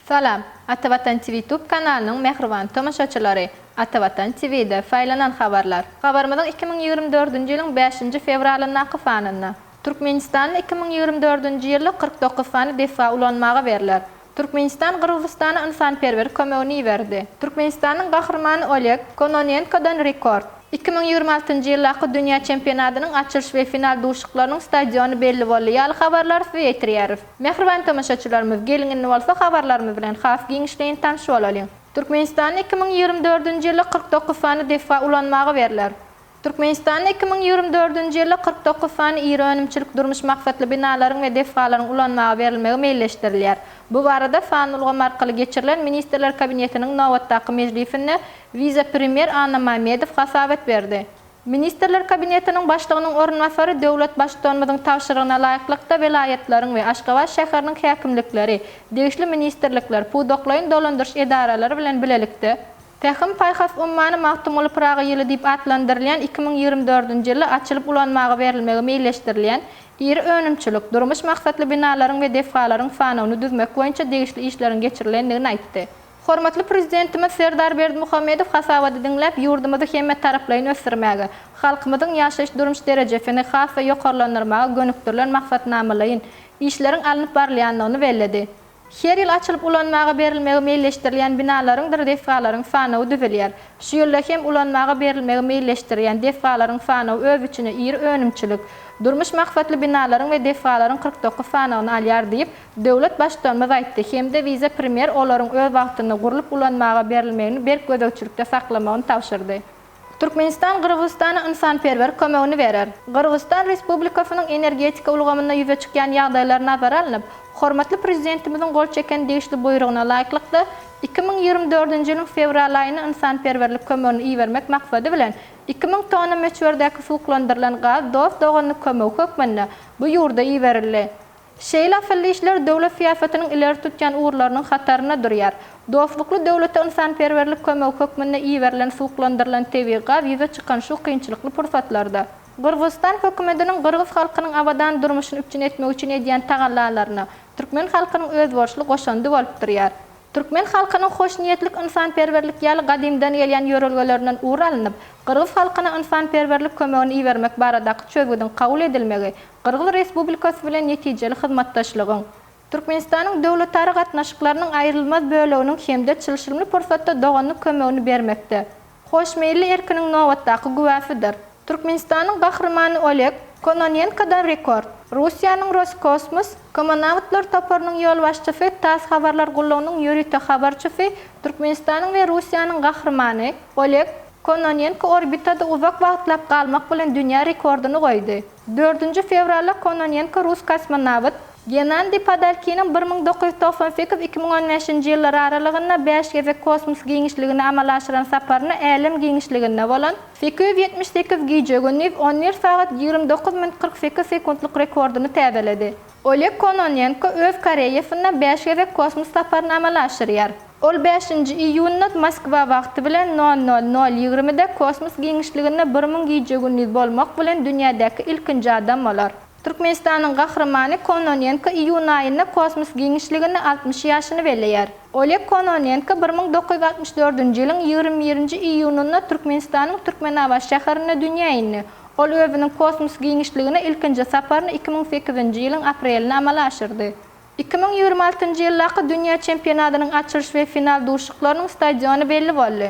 Salam! Ata Watan TV Tube kanalynyň mähriban tomaşaçylary! Ata Watan TV-de saýlanan habarlar. Habarymyzyň iki müň ýigrimi dördünji ýylyň bäşinji fewralyndaky sanynda. Türkmenistan'da iki müň ýigrimi dördünji ýylda kyrk dokuz sany desga ulanmaga berler. Türkmenistan Gyrgyzystana ynsanperwer kömegini iberdi. Türkmenistanyň gahrymany Oleg Kononenkodan rekord. Iki müň ýigrimi altynjy ýyldaky dünýä çempionatynyň açylyş we final duşuşyklarynyň stadiony belli boldy ýaly habarlary size ýetirýäris. Mähriban tomaşaçylarymyz, geliň indi bolsa habarlarymyz bilen has giňişleýin tanyş bolalyň. Türkmenistanda iki müň ýigrimi dördünji ýylda kyrk dokuz sany desga ulanmaga berler. Türkmenistanda iki müň ýigrimi dördünji ýylda kyrk dokuz sany iri önümçilik-durmuş maksatly binalaryň we desgalaryň ulanmaga berilmegi meýilleşdirilýär. Bu barada sanly ulgam arkaly geçirilen Ministrler Kabinetiniň nobatdaky mejlisinde wise-premýer Anna Mamedow hasabat berdi. Ministrler Kabinetiniň Başlygynyň orunbasary döwlet Baştutanymyzyň tabşyrygyna laýyklykda welaýatlaryň we Aşgabat şäheriniň häkimlikleri, degişli ministrlikler, pudaklaýyn dolandyryş edaralary bilen bilelikde, Pähim-paýhas ummany Magtymguly Pyragy ýyly diýip atlandyrylýan iki müň ýigrimi dördünji ýylda açylyp ulanmaga berilmegi meýilleşdirilýän iri önümçilik, durmuş maksatly binalaryň we desgalaryň sanawyny düzmek boýunça degişli işleriň geçirilendigini aýtdy. Hormatly Prezidentimiz Serdar Berdimuhamedow hasabaty diňläp, ýurdumyzy hemmetaraplaýyn ösdürmäge, halkymyzyň ýaşaýyş-durmuş derejesini has-da ýokarlandyrmaga gönükdirilen maksatnamalaýyn işleriň alnyp barylýandygyny belledi. Her ýyl açylyp ulanmaga berilmegi meýilleşdirilýän binalaryňdyr desgalaryň sanawy düzülýär. Şu ýylda hem ulanmaga berilmegi meýilleşdirilýän desgalaryň sanawy öz içine iri önümçilik, durmuş maksatly binalaryň we desgalaryň kyrk dokuz sanawyny alýar diýip, döwlet Baştutanymyz aýtdy hem-de wise-premýer olaryň öz wagtynda gurlup ulanmaga berilmegini berk gözegçilikde saklamagyny tabşyrdy. Türkmenistan Gyrgyzystana ynsanperwer kömegini berer. Gyrgyzystan Respublikasynyň energetika ulgamynda ýüze çykýan ýagdaýlar nazara alnyp, hormatly Prezidentimiziň gol çeken degişli buýrugyna laýyklykda, iki müň ýigrimi dördünji ýylyň fewral aýyna ynsanperwerlik kömegini ibermek maksady bilen, iki müň tonna möçberdäki suwuklandyrylan gaz dost-doganlyk kömegi hökmünde bu ýurda iberildi. Şeýle asylly işler döwlet syýasatynyň ileri tutýan ugurlarynyň hatarynda durýar. Dostlukly döwlete ynsanperwerlik kömegi hökmünde iberilen suwuklandyrylan tebigy gaz ýüze çykan şu kynçylykly pursatlarda, Gyrgyzystan hökümetiniň gyrgyz halkynyň abadan durmuşyny üpjün etmek üçin edýän tagallalaryna türkmen halkynyň özboluşly goşandy bolup durýar. Türkmen halkynyň hoşniýetlik, ynsanperwerlik ýaly gadymdan gelýän ýörelgelerinden ugur alnyp, gyrgyz halkyna ynsanperwerlik kömegini ibermek baradaky çözgüdiň kabul edilmegi Gyrgyz Respublikasy bilen netijeli hyzmatdaşlygyň, Türkmenistanyň döwletara gatnaşyklarynyň aýrylmaz böleginiň hem-de çylşyrymly pursatda doganlyk kömegini bermekde hoşmeýilli erkiniň nobatdaky güwäsidir. Türkmenistanyň Gahrymany Oleg Kononenkodan rekord, Russiýanyň Roskosmos komonawtlar toparynyň ýolbaşçysy tass habarlar gullugynyň ýörite habarçysy Türkmenistanyň we Russiýanyň Gahrymany Oleg Kononenko orbitada uzak wagtlap galmak bilen dünýä rekordyny goýdy. Dördünji fewralda Kononenko rus kosmonawt. Genandiý Padalkiniň bir müň dokuz ýüz togsan sekiz-iki müň on bäşinji ýyllar aralygynda bäş gezek kosmos giňişligine amala aşyran saparyny älem giňişliginde bolan sekiz ýüz ýetmiş sekiz gije-gündiz on bir sagat ýigrimi dokuz minut kyrk sekiz sekuntlyk rekordyny täzeledi. Oleg Kononenko öz karýeasynda bäş gezek kosmos saparyny amala aşyrýar. Ol bäşinji iýunda Moskwa wagty bilen nol nol nol ýigrimide kosmos giňişliginde bir müň gije-gündiz bolmak bilen dünýädäki ilkinji adam bolar. Türkmenistanyň Gahrymany Kononenko iýun aýynda kosmos giňişliginde altmyş ýaşyny belleýär. Oleg Kononenko bir müň dokuz ýüz altmyş dördünji ýylyň ýigrimi birinji iýunynda Türkmenistanyň Türkmenabat şäherinde dünýä indi. Ol özüniň kosmos giňişligine ilkinji saparyny iki müň sekizinji ýylyň aprelinde amala aşyrdy. Iki müň ýigrimi altynjy ýyldaky dünýä çempionatynyň açylyş we final duşuşyklarynyň stadiony belli boldy.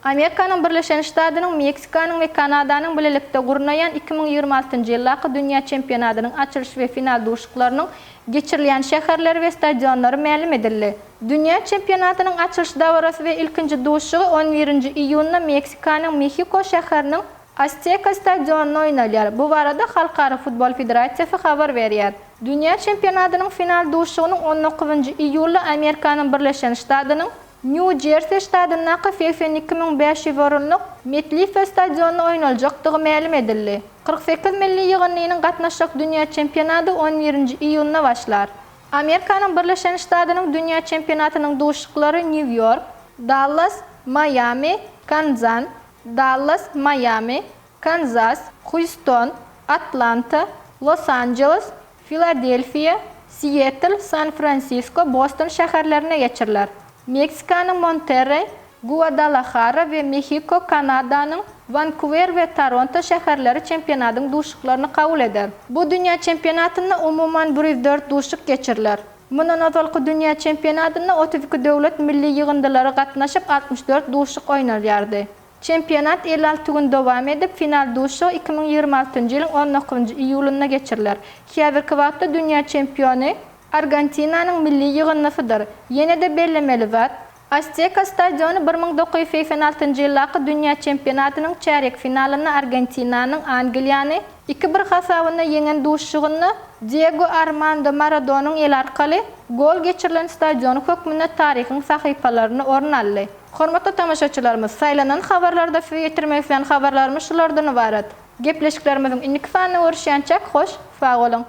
Amerikanyň Birleşen Ştadynyň, Meksikanyň we Kanadanyň bilelikde gurnaýan iki müň ýigrimi altynjy ýyldaky dünýä çempionatynyň açylyş we final duşuşyklarynyň geçirilýän şäherleri we stadionlary mälim edildi. Dünýä çempionatynyň açylyş dabarasy we ilkinji duşuşygy on birinji iýunda Meksikanyň Mehiko şäheriniň Azteka stadionynda oýnalýar. Bu barada Halkara futbol federasiýasy habar berýär. Dünýä çempionatynyň final duşuşygynyň on dokuzynjy iýulda Amerikanyň Birleşen Ştadynyň Nýu-Jersi ştatyndaky segsen iki müň bäş ýüz orunlyk MetLife stadionynda oýnaljakdygy mälim edildi. Kyrk sekiz milli ýygyndynyň gatnaşjak dünýä çempionaty on birinji iýunda başlar. Amerikanyň Birleşen Ştadynyň dünýä çempionatynyň duşuşyklary Nýu-Ýork, Dallas, Maýami, Kanzan, Dallas, Maýami, Kanzas, Hýuston, Atlanta, Los-Anjeles, Filadelfiýa, Sietl, San-Fransisko, Boston şäherlerinde geçiriler. Meksikanyň Monterreý, Guadalahara we Mehiko, Kanadanyň Wankuwer we Toronto şäherleri çempionatyň duşuşyklaryny kabul eder. Bu dünýä çempionatynda umuman bir ýüz dört duşuşyk geçiriler. Mundan ozalky dünýä çempionatynda otuz iki döwlet milli ýygyndylary gatnaşyp, altmyş dört duşuşyk oýnalýardy. Çempionat elli alty gün dowam edip, final duşuşygy iki müň ýigrimi altynjy ýylyň on dokuzynjy iýulynda geçiriler. Häzirki wagtda dünýä çempiony Argentinanyň milli ýygyndysydyr. Ýene-de bellemeli zat, Azteka stadiony bir müň dokuz ýüz segsen altynjy ýyldaky dünýä çempionatynyň çärýek finalynda Argentinanyň Angliýany iki bir hasabynda ýeňen duşuşygynda Diego Armando Maradonyň eli arkaly gol geçirilen stadiony hökmünde taryhyň sahypalarynda orun aldy. Hormatly tomaşaçylarymyz, saýlanan habarlarda size ýetirmek isleýän habarlarymyz şulardan ybarat. Gepleşiklerimiziň indiki sanyny görüşýänçäk hoş, sag boluň!